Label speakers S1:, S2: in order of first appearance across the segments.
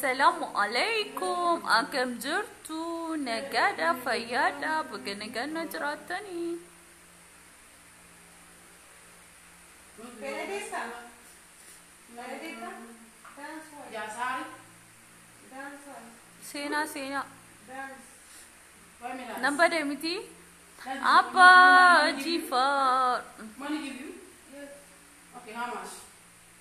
S1: Salaamu alaikum akkam jirtu nagaadha fayyaadha baga nagaan na jiraattanii. Seenaa seenaa nan bade miti abbaa jifaar. Money give you? Okay, how much?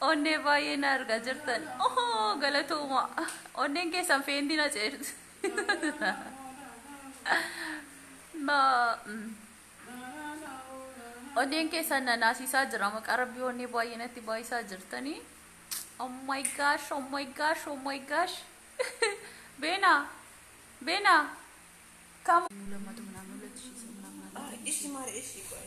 S1: Onnee baay'ee na argaa jirtan. Ohoo galatooma. Onneen keessan feentii na ceerti. Ma mm. onneen keessan na naasisaa jira maqaa rabbii onnee baay'ee natti baay'isaa jirtanii. Oh my gosh, oh my gosh, oh my gosh. Beena, beena. Kam. Mul'amatu minaan mul'atu ishii isa minaan mul'atu. Ishi maal ishi qoy.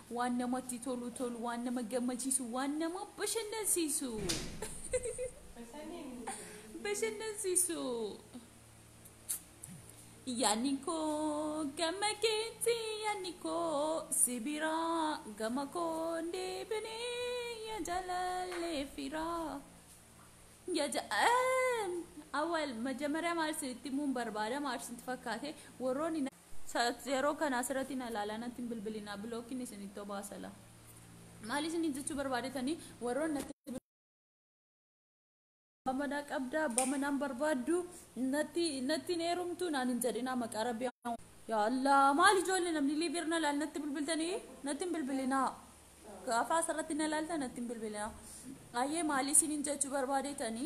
S1: Waan namatti tolu tolu, waan nama gammachiisu, waan nama bashannansiisu. Bashannansiisu. Yaanni koo gama keetti, yaanni koo si biraa, gama koo hin deebine, yaa jaalallee firaa. Yaa ja- Eem! Awwal, majamaryaa maal isinitti himuun barbaada, maal isinitti fakkaate, warroonni na- Sa'at zero kana asirati na lala natti hin bilbilina block ni isinitti obaasala maali isini jechuu barbaadetani warroon natti abbaa manaa qabda abbaa manaa hin barbaaddu natti natti hin heerumtu naan hin jedhina maqaa rabbi yaa allah maali ijoollee namni liibiir na laal natti bilbiltani natti hin bilbilina gaafa asirratti na laalta natti hin bilbilina ayyee maali isinin jechuu barbaadetani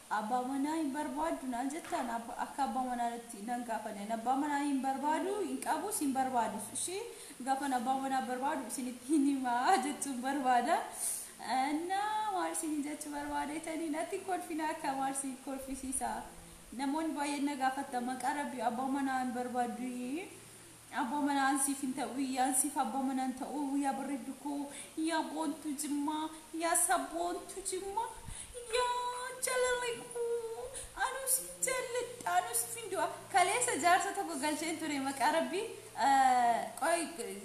S1: Abbaa manaa hin barbaaddu naan jettaan akka abbaa manaatti nan gaafanne ani abbaa manaa hin barbaadu hin qabus hin barbaadus ishii gaafan abbaa manaa barbaadu isinitti hin himaa jechuun barbaada na maal isiniin jechuu barbaadeetanii natti hin kolfina akka maal isin kolfisiisa namoonni baay'een na gaafatta maqaa rabbi abbaa manaa hin barbaaddu Abbo mana an sif hin ta, ui an sif abbo mana hin ta, uu yaa barreddu koo yaa boontu jimma yaa sabboontu jimma yaa jalale koo anu sin jalladha anu sif hin du'a kaleessa jaarsa tokko galcheen ture maqaa rabbi qoy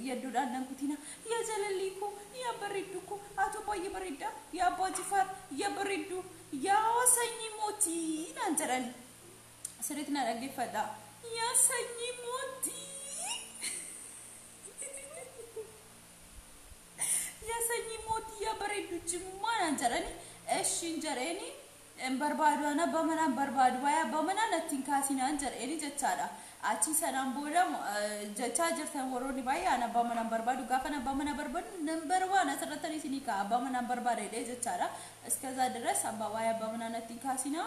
S1: yaddudhaan nan kutina yaa jalallii koo yaa barreddu koo atu baay'ee baredda yaa abbaa jifaar yaa barreddu yaa sanyii mootii naan jedhani Sirriitti na dhaggeeffadha. Yaa sanyii mootii! Yaa sanyii mootii yaa bareeddu cimmaa naan jedhani. Eshiin jedheeni hin barbaadu ana abbaa manaa hin barbaadu waa'ee abbaa manaa natti hin kaasii naan jedheeni jechaadha. Achii sanaan booda eh, jechaa jirtan warroonni baay'ee ana abbaa manaa hin barbaadu gaafa ana abbaa manaa barbaadu number one asirratti isinii ka'a abbaa manaa hin barbaada jedhee jechaadha. Iskazaa diras abbaa waa'ee abbaa manaa natti hin kaasinaa.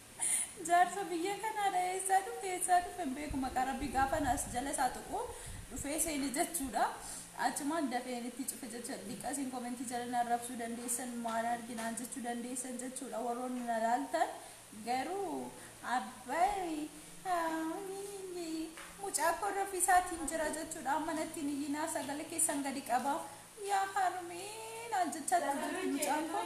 S1: Jaarsa biyya kanaadha eessaa dhufe eessaa dhufe hin beeku maqaa rabbii gaafan as jala isaa tuqu dhufee seene jechuudha achumaan dafeen itti cufe jechuudha diqqa isin komentii jala na arrabsuu dandeessan maal arge naan jechuu dandeessan jechuudha warroonni na laaltan garuu abbayi mucaa koo rafii isaatiin jira jechuudha amma nattiin iyyinaa sagale keessan gadi qaba yaa harmee naan jechaa turte mucaan koo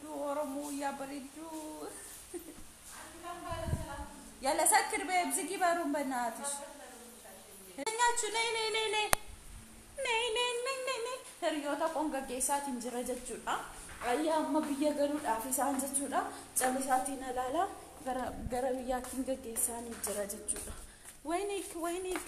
S1: Duu Oromoo yaa bareedduu. Yalla sakkir bee ibzigii baruun banaatish. Nyaachu nee nee nee nee. Nee nee nee nee nee. Hiriyoota qoon gaggeessaatiin jira jechuudha. Ayyaa amma biyya galuudhaaf isaan jechuudha. Callisaatiin alaala gara gara biyyaattiin gaggeessaanii jira jechuudha. Wayiniik wayiniik.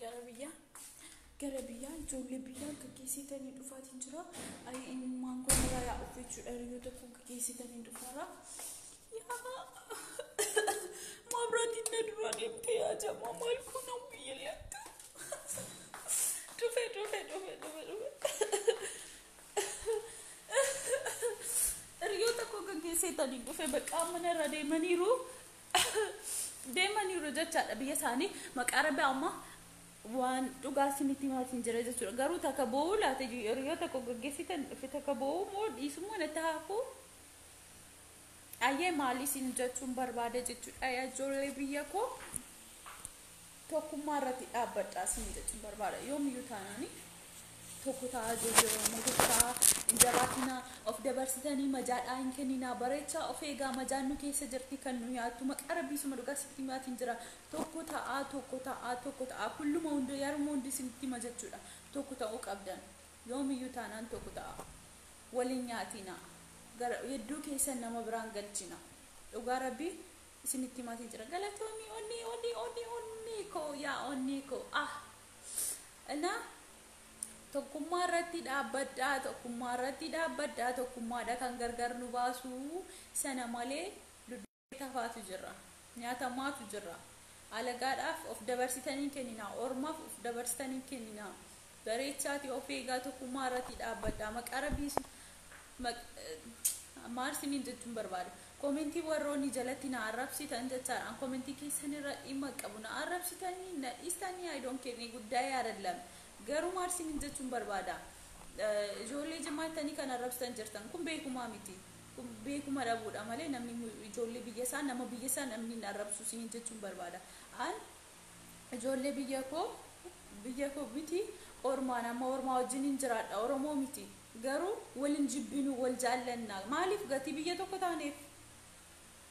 S1: Gara biyyaa gara biyyaa ijoollee biyyaa gaggeessitanii dhufaatiin jira. Ayi eenyummaan kun irraa yaa of jechuudha yoo tokko gaggeessitanii dhufaara. Yaa mabraatiin na duraa deemtee yaa jamaa maal kun nama biyya latta. Dhufe dhufe dhufe dhufe dhufe. Hiriyoota koo gaggeessitanii dhufe bakka mana irra deemaniiru. deemaniiru jechaadha biyya isaanii maqaa rabbi amma waan dhugaa isinitti himaatiin jira jechuudha garuu takka boo'uu laata yeroo tokko gaggeessitan dhufe takka boo'uu moo dhiisummoo natti haafuu ayyee maal isin jechuun barbaada jechuudha yaa ijoollee biyya koo Tokkummaa irratti dhaabbadhaa siin jechun barbaada. Yoomiyyuu taanaani tokko ta'aa ijoollee Oromoo tokko ta'aa hin jabaatinaa of dabarsitanii majaadhaa hin kenninaa bareechaa of eegaa majaan nu keessa jirti kan nu nyaattu maqaa rabbii suma dhugaa sitti himaatiin jira tokko ta'aa tokko ta'aa tokko ta'aa kulluma hundoo yaruma hundi isinitti hima jechuudha tokko ta'uu qabdan yoomiyyuu taanaan tokko ta'aa waliin nyaatinaa gara yedduu keessan nama biraan galchina dhugaa rabbii isinitti himaatiin jira galatoomii onnee onnee onnee onnee koo yaa onnee koo ah na tokkummaa irratti dhaabbadhaa tokkummaa irratti dhaabbadhaa tokkummaadha kan gargar nu baasu sana malee dudduuqee tafaatu jirra nyaatamaatu jirra alagaadhaaf of dabarsitanii kenninaa ormaaf of dabarsitanii kenninaa Bareechaati of eegaa tokkummaa irratii dhaabbadhaa maqaa rabbiin sin maal sinin jechuun barbaada komentii warroonni jalatti na arrabsitan jechaadha an komentii keessan irra dhimma qabu na arrabsitanii na dhiistanii I don't care ni guddaa yaadallam garuu maal sinin jechuun barbaada ijoollee jimmaa tanii kan arrabsitan jirtan kun beekumaa miti kun beekuma dhabuudha malee namni ijoollee biyya isaa nama biyya isaa namni hin arrabsu sinin jechuun barbaada an Ijoollee biyya koo biyya koo miti ormaa nama ormaa wajjinin jiraadha oromoo miti garuu wal hin jibbinu wal jaallanna maaliif gatii biyya tokko taaneef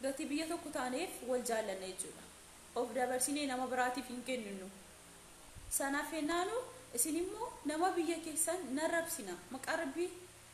S1: gatii biyya tokko taaneef wal jaallanna jechuudha of dabarsinee nama biraatiif hin kenninu sanaaf hennaanu isin immoo nama biyya keessan narrabsina maqaa rabbii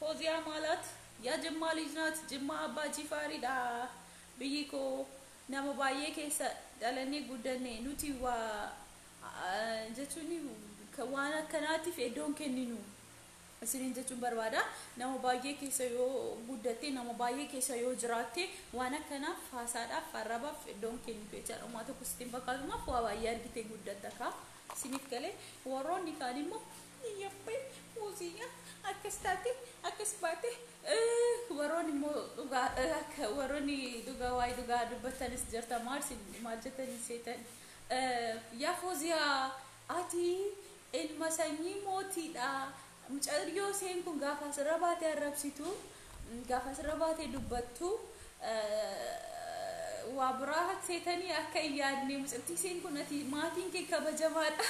S1: Foziyaa maalat yaa jimmaa lij naat jimmaa abbaa jifaari dha biyyi koo nama baay'ee keessa dhalannee guddanne nuti wa, a jechuun waan akkanaatiif eddoo hin kenninu isiniin jechuun barbaada nama baay'ee keessa yoo guddatte nama baay'ee keessa yoo jiraatte waan akkanaaf haasaadhaaf arrabaaf eddoo hin kennitu jechaadha homaa tokko sitti hin fakkaatu maaf waa baay'ee argitee guddatta kaa isiniif galee warroonni kaan immoo Yappee Foziyaa akkas taate akkas baate eh, waroon immoo dhugaa eh, akka waroon dhugaa waa'ee dhugaa dubbatanis jirta maal sin maal jetanii seetan eh, yaa Foziyaa ati ilma sanyii mootiidha mucayyoo seen kun gaafa asirra baate arrabsitu Gaafa asirra baatee dubbattu waa biraa hakseetanii akka hin yaadne mucattii isheen kun ati maatiin kee kabajamaadha.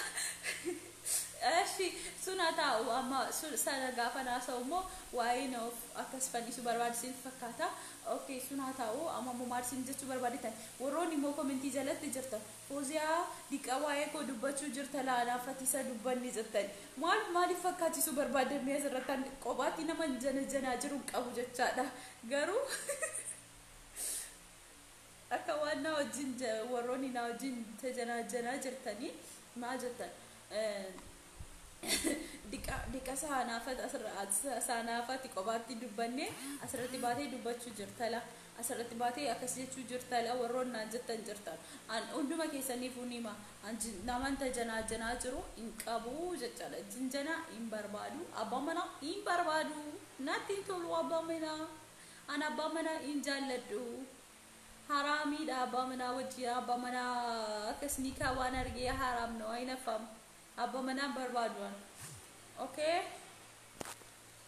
S1: Ashi sun haa taa'u amma sana gaafa naasa'u immoo waa'een of akkas fannisu barbaadisiin fakkaata. Okay sun haa taa'u amma immoo maal isin jechuu barbaaditan warroonni immoo komentii jalatti jirtan. Foziyaa diqqa waa'ee koo dubbachuu jirta laa anaaf fatiisa dubbanni jettani maal maaliif fakkaachisuu barbaaddan mee asirratti an qophaatti naman janajanaa jiru hin qabu jechaadha garuu akka waan naa wajjin ja- warroonni naa wajjin tajanaajanaa jirtanii maal jettan diqa diqa saanaafat asirra saanaafati qophaatti dubbanne asirratti baatee dubbachuu jirtala Asirratti baatee akkas jechuu jirta la warroon naan jettan jirtan. An hunduma keessaniifuu nima. An namanta janaajanaa jiru hin qabu jechaadha. Jinjanaa hin barbaadu. Abbaan manaa hin barbaadu. Natti hin tolu abbaan manaa. An abbaa manaa hin jaalladhu. Haraamiidha abbaa manaa wajjin abbaa manaa akkas nikaa waan argee haraam na waa hin affamu. Abbaa manaa hin barbaadu an. Okay?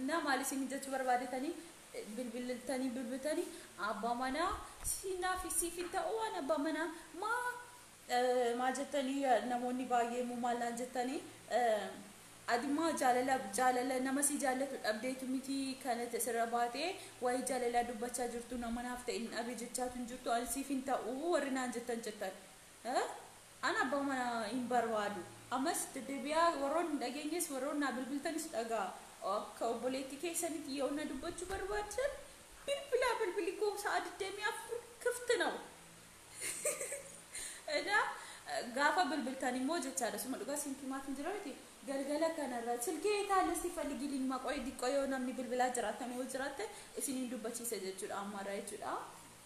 S1: Innaa maal isiin jechuu barbaadetanii bilbiltanii bilbiltanii abbaa manaa siinaaf siif hin ta'u waan abbaa manaa maa maal jettanii namoonni baay'ee immoo maal naan jettanii adimaa jaalala jaalala nama si jaallatu dhabdeetu miti kanatti asirra baatee waa'ee jaalalaa dubbachaa jirtu nama naaf ta'e hin dhabe jechaatu hin jirtu ani siif hin ta'u warri naan jettan jettan. Ee an abbaa manaa hin barbaadu. Ammas deddebi'aa warroonni hin dhageenyes warroonni naa bilbiltanis dhaga'aa. Akka obboleettii keessanitti yoo na dubbachuu barbaaddan bilbilaa bilbilli koo sa'a digdamii afur kifti naw. Edaa gaafa bilbiltan immoo jechaadha suma dhugaa isinitti himaatiin jira miti galgala kanarra silkee yet aale si falgilin maqoy diqqoo yoo namni bilbilaa jiraattan yoo jiraatte isiniin dubbachiisa jechuudha ammarra jechuudha.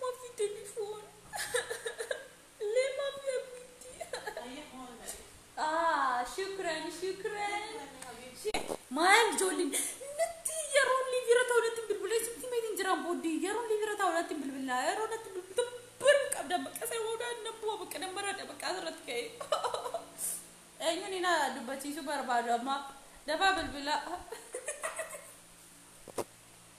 S1: Mafi telefon le mafi abiti. Ah, shukran, shukran. Maal ijoolleen natti yeroo inni bira ta'u natti hin bilbilee sitti himee hin jiraan booddee yeroo inni bira ta'u natti hin bilbilaa yeroo natti bilbilta baruu hin qabdan bakka isa boodaa nan bu'a bakka nan baradha bakka asirratti ka'e. Eenyuun ina dubbachiisuu barbaadu amma dafaa bilbilaa.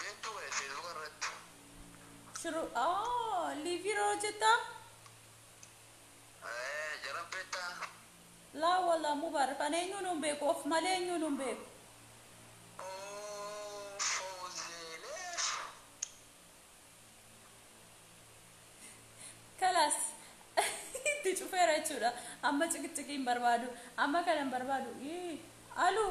S1: Beektuu ba'e feesbuka irratti. Siruu oh liivii irra hojjettaa? Eh, Jara beektaa? Laa walaa mubaarak ani eenyuu nuun beeku of malee eenyuu nuun beeku. Oh, Fawzeeleef. Kalaas itti cufeera jechuudha. Amma ciqiciqii hin barbaadu. Amma kana hin barbaadu. Ii, Aluu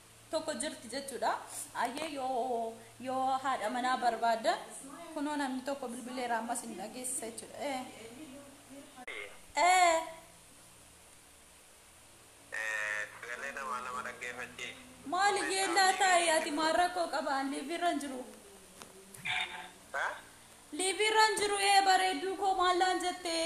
S1: tokko jirti jechuudha. Ayyee yoo yoo haadha manaa barbaadda kunoo namni tokko bilbileera ammas hin dhageessisa jechuudha. Eh. Eh. Sagalee namaa nama dhaggeeffachiis. Maali yeellaa taa'e ati maal rakkoo qaba an liiviirran jiru. Ha? Liiviirran jiru ee bareedduu koo maallaan jettee.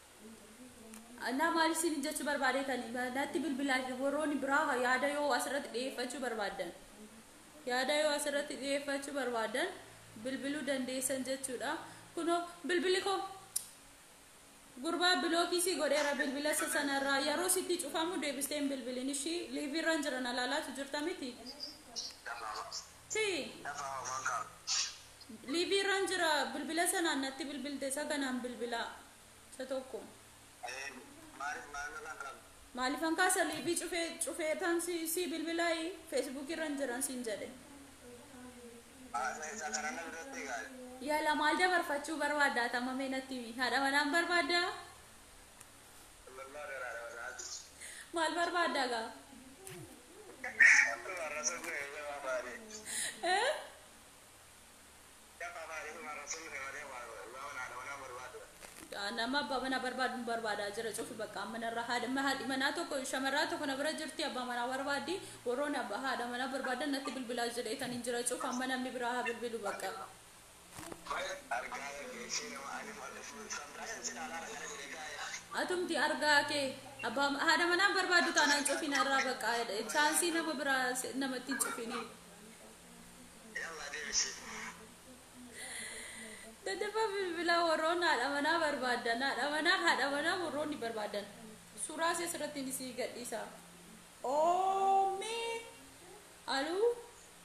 S1: Naa maal isin jechuu barbaadeetani natti bilbilaa warroonni biraa yaada yoo asirratti dhiyeeffachuu barbaaddan yaada yoo asirratti dhiyeeffachuu barbaaddan bilbiluu dandeessan jechuudha. Kunoo bilbili koo gurbaa bilookii si godheera bilbila isa sanarraa yeroo sitti cufamu deebisteen bilbilin ishii liiviirraan jiran alaalaatu jirta miti. Nama Sii. Dafaa homaan qabu. Live irran jira bilbila sanaan natti bilbilte isa kanaan bilbilaa isa tokko. Ee maaliif maal namaan qabu. Maalifan kaasa live cufee cufee tan si si bilbilaayi Facebook irran jiran siin jedhe. Haa isa isa kanaan na biratti gaali. Yala maal dabarfachuu barbaadda atama mee natti himi haadha manaan barbaadda. Abdullah garaa dha bakka hajjiti. Maal barbaadda gaa? Abdullah rasul kee yoo jabaa baate. Eh? Jabaa baate kuma rasul kee malee waa waa naa dha wanaa barbaaddu. Nama abbaa manaa barbaadu barbaadaa jira cufi bakka amma narra haadha ma- haadhi manaa tokko shamarraa tokko na bira jirti abbaa manaa barbaaddi warroon abbaa haadha manaa barbaadan natti bilbilaa jedheetaniin jira cufa amma namni biraa haa bilbilu bakka. Atumti argaa kee abbaa haadha manaan barbaaddu taanaan cufina irraa baqaa chaansii nama biraa se- namatti hin cufiniin. Daddafa bilbilaa warroon haadha manaa barbaadan haadha manaa haadha manaa warroonni barbaadan suuraa isee asirratti ni sii gadhiisa. Oomee aluu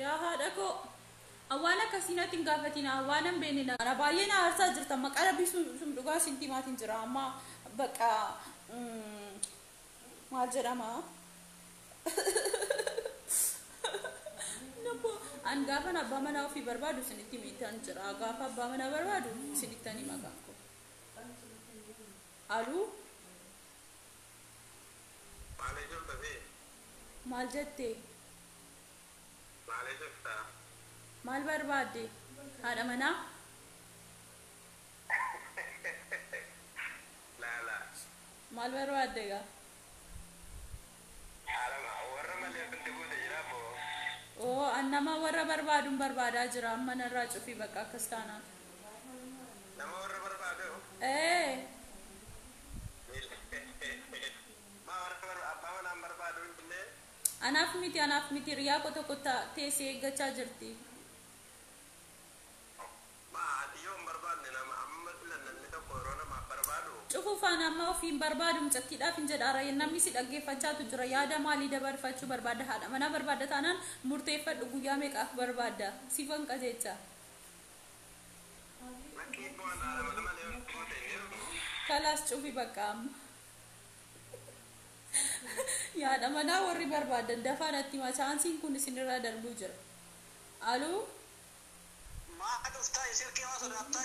S1: Yaa haadha koo An waan akkasii natti hin gaafatina waanan beekne na Ana baay'ee na aarsaa jirtan maqaa rabbii sum sum dhugaa isinitti himaatiin jira amma baqqa maal jedhama Nabbo an gaafan abbaa manaa ofii barbaadu isinitti himiitan jira gaafa abbaa manaa barbaadu isinittan hima kan koo aluu Maalee jirta sii. Maal jette? Maalee jirta? Maal barbaadde? Haadha manaa? Laalaa. Maal barbaadda egaa? Haadha ma warra malee wanti guute jira boo. Oo an nama warra barbaadun barbaadaa jira amma narraa cufi bakka akkas taanaan.
S2: Nama warra barbaaduu? Ee.
S1: Anaaf miti anaaf miti hiriyaa koo tokko ta, tee si eeggachaa jirti.
S2: Cufuu faana amma ofii
S1: hin barbaadu mucattiidhaaf hin jedha ara namni si dhaggeeffachaatu jira yaada maalii dabarfachuu barbaadda haadha manaa barbaadda taanaan murteeffadhu guyyaa meeqaaf barbaadda siifan qajeecha. Kalaas cufi bakka amma. Yaada manaa warri barbaadan dafaa natti himaa chaansiin kun isinirraa darbuu jira. Aluu
S2: Maa dhuftaa silkii maa sodaattaa?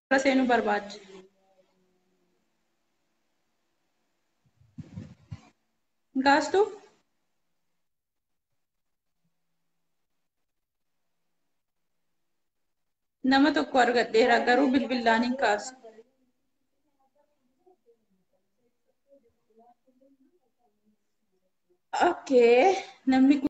S1: Gara seenuu barbaadde. Hin kaastu? Nama tokko argadheera garuu bilbilaan hin kaasu. Okay, namni kun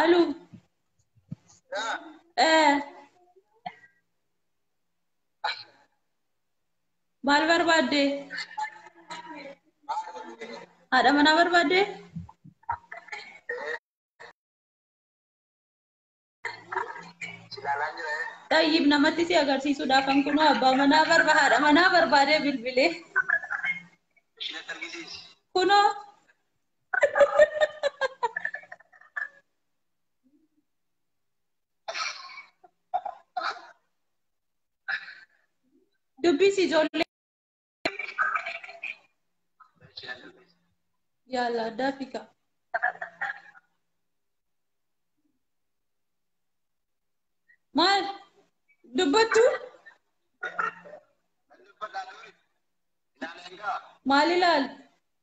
S1: Alu. Eh. Maal barbaadde? Haadha manaa barbaadde? Xayyib namatti si agarsiisuudhaaf kan kunoo abbaa manaa barba haadha manaa barbaadee bilbilee. Kunoo Dubbisi ijoollee. Yaala addaa fi kaa. Maal dubbattu? Maal ilaaltu?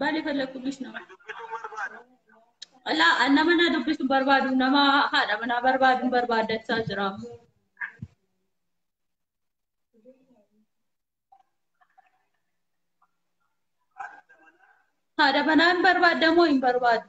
S1: Baal fallaquu bisna. Laa nama na dubbisu barbaadu nama haadha manaa barbaadu barbaadachaa jira. Haadha manaan barbaadda moo hin barbaaddu?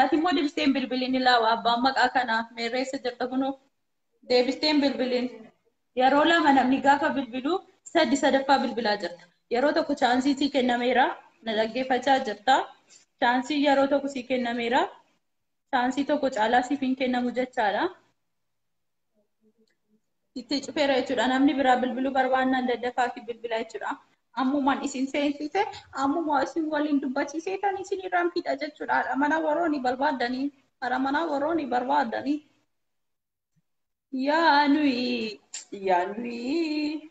S1: Ati immoo deebistee hin bilbiliin ilaawa abbaan maqaa kanaa meerree eessa jirta kunoo deebistee hin bilbiliin. Yeroo lama namni gaafa bilbilu sadi sadaffaa bilbilaa jirta. Yeroo tokko chaansii sii kennameera na dhaggeeffachaa jirta. Chaansii yeroo tokko sii kennameera. Chaansii tokko caalaa siif hin kennamu jechaadha. Itti cufeera jechuudha. Namni biraa bilbiluu barbaannaan daddafaa fi bilbilaa jechuudha. Ammumaan isin seensise ammuma isin waliin dubbachiisee tan isin irraan fixa jechuudha. Haadha manaa warroonni barbaaddanii haadha manaa warroonni barbaaddanii. Yaa nuyi yaa nuyi.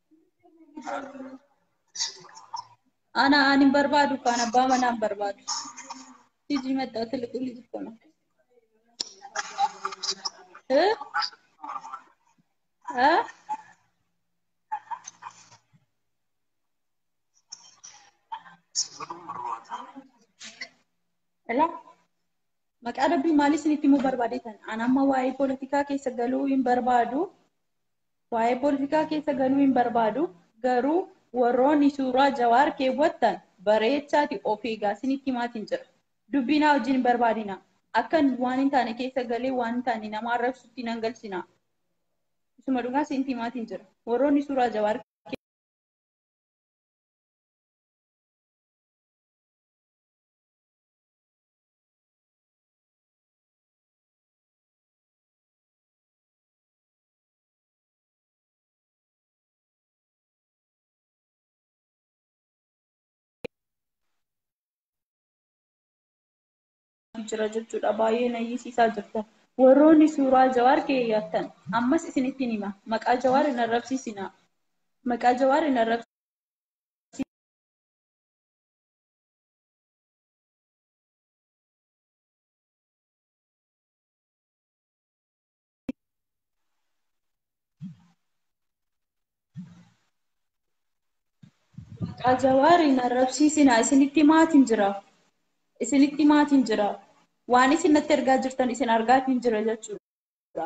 S1: Ana aan hin barbaadu kaan abbaa manaa hin barbaadu. Hiji maxxaa tiliqulli tokkona. Eh? Eh? Ela? Maqaa rabbii maal isinitti himuu barbaade tan? An amma waa'ee poolitikaa keessa galuu hin barbaadu. Waa'ee pooltikaa keessa galuu hin barbaadu garuu warrooni suuraa jawaar keewwattan bareechaati of eegaa sinitti himaatiin jira. Dubbii naa wajjin hin barbaadinaa. Akkan waan hin taane keessa galee waan hin taane nama arrabsutti nan galchinaa. Isuma dhugaa sinitti himaatiin jira. Warrooni suuraa jawaar jira jechuudha baay'ee nayyisiisaa jirta warroonni suuraa jawaar keeyyattan ammas isinitti hima maqaa jawaar hin arrabsiisina maqaa jawaar hin arrabsiisina Maqaa jawaariin arrabsiisinaa isinitti maatiin jira. Isinitti maatiin jira. Waan isin natti ergaa jirtan isin argaatiin jira jechuudha.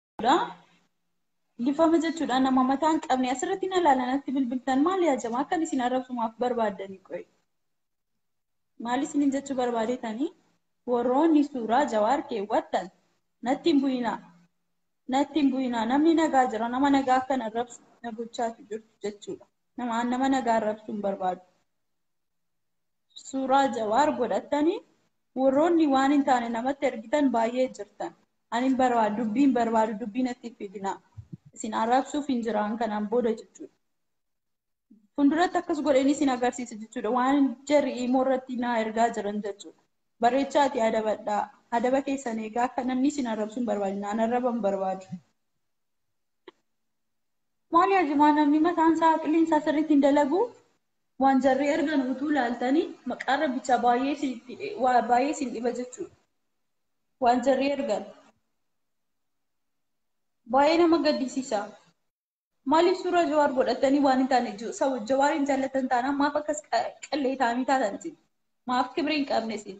S1: jechuudha. Lifama jechuudha nama mataa hin qabne asirratti na ilaalanatti bilbiltan maal yaa jamaa akkan isin arrabsumaaf barbaaddanii qoyi. Maal isinin jechuu barbaadetanii warroonni suuraa jawaar keewwattan natti hin bu'inaa. Natti hin bu'inaa namni nagaa jira nama nagaa akkan arrabsu na gochaatu jirtu jechuudha. Nama nama nagaa arrabsuu hin barbaadu. Suuraa jawaar godhattanii warroonni waan hin taane namatti ergitan baay'ee jirtan. Ani hin barbaadu, dubbii hin barbaadu, dubbii natti hin fidinaa. Isin arrabsuuf hin jiraan kanaan booda jechuudha. Fuulduratti akkas godheen isin agarsiisa jechuudha. Waan jarri imoo irratti naa ergaa jiran jechuudha. Barreechaa ati adabadhaa. Adaba keessan eegaa akka namni isin arrabsu hin barbaadina. An arraba hin barbaadu. Maali ajimaa namni mataan isaa aqliin isaa sirriitti hin dalagu. Waan jarri ergan utuu laaltanii maqaa rabbicha baay'ee isin dhiba jechuudha. waan jarri ergan baay'ee nama gaddisiisa. Maaliif suuraa jawaar godhatanii waan hin taane jawaar hin jaallatan taanaan maaf akkas qalleetaanii taatan isin maaf kibrii hin qabne isin.